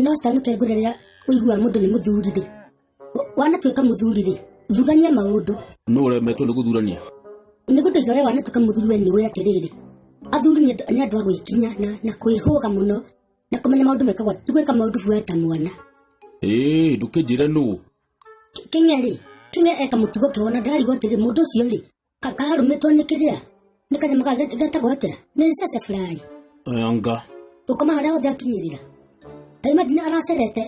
no citanũke ngwĩre rĩrĩa ũigua mũndũ nĩ mũthuri rĩ wanatuĩka mũthuri rĩ thurania maũndũ nũ ũremetwo nĩ gũthurania nĩ gũtũiga ũrĩa wanatuĩka mũthuri we nĩ ũĩ atĩrĩrĩ athuri nĩ andũ- nĩ andũ a gwĩkinya na, na kwĩhũga mũno na kũmenya maũndũ mekagwo ti gwĩka maũndũ buoya ta mwana ĩĩ ndũkĩnjĩre nũ kenya rĩ kenya eka mũtugo kĩwona ndarigwo atĩrĩ mũndũ ũcio rĩ Ka- kararũmĩtwo nĩ kĩrĩa nĩ kanyamũ ga getagwo atĩa nĩ ceceburaĩ nga ũkoma harĩa hothe akinyĩrĩra ta imagine aracerete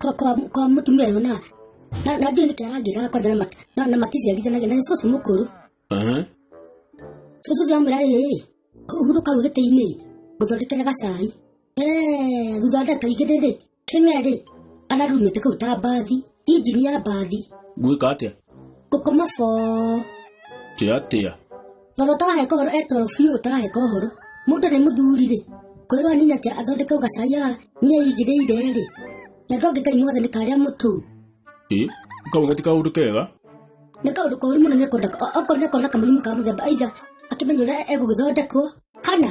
kwa- kwa kwa mũtumia ũyũ na na- na ndiũ nĩkĩ arangĩra kwanja na mat- na- na maticiarithanagia na nĩ cũcũ mũkũrũ Aha. cũcũ ũcio amwĩra ĩĩ hurũka rũgĩtĩ-inĩ ngũthondekere gacai Eh, thutha wa ndagĩka ingĩ ndĩndĩ Kĩng'erĩ ararumĩte kau ta mbathi, injini ya mbathi. Ngwĩka atĩa? Ngũkoma boo. Tĩ atĩa? Toro tarahe kohoro e toro biũ tarahe kohoro. Mũndũ nĩ mũthuri rĩ, kwĩrwo anini atĩ athondeke ũgacai haha niĩ aigĩrĩire rĩ. Na ndonge Ngai mothe nĩ karĩa mũtũ. Ĩ, kau gati kaũndũ kega? Nĩ kaũndũ koru mũno nĩ akona, okorwo nĩ akona kamũrimũ ka mũthemba either akĩmenya ũrĩa egũgĩthondekwo kana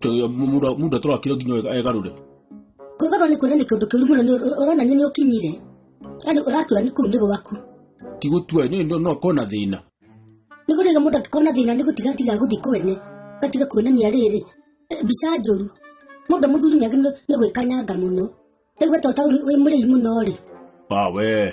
Tũyo muda muda tũrakira nginya ega- egarũre. Kwĩgarũra nĩ kuonania kĩndũ kĩũru mũno nĩ ũr- ũronania nĩ ũkinyire. Yaani ũratua nĩ kũu nĩ gwaku. Ti gũtua nĩ nĩ- no kona thĩna. Nĩ kũrĩga mũndũ angĩkona thĩna nĩ gũtiga tiga gũthiĩ kwene. Gatiga kuonania rĩrĩ. Eh, Mbica njũru. Mũndũ mũthuri nĩ agĩrĩirwo nĩ gwĩkanyanga mũno. Rĩu weta ũtaũri wĩ mũrĩi mũno rĩ. Ba we.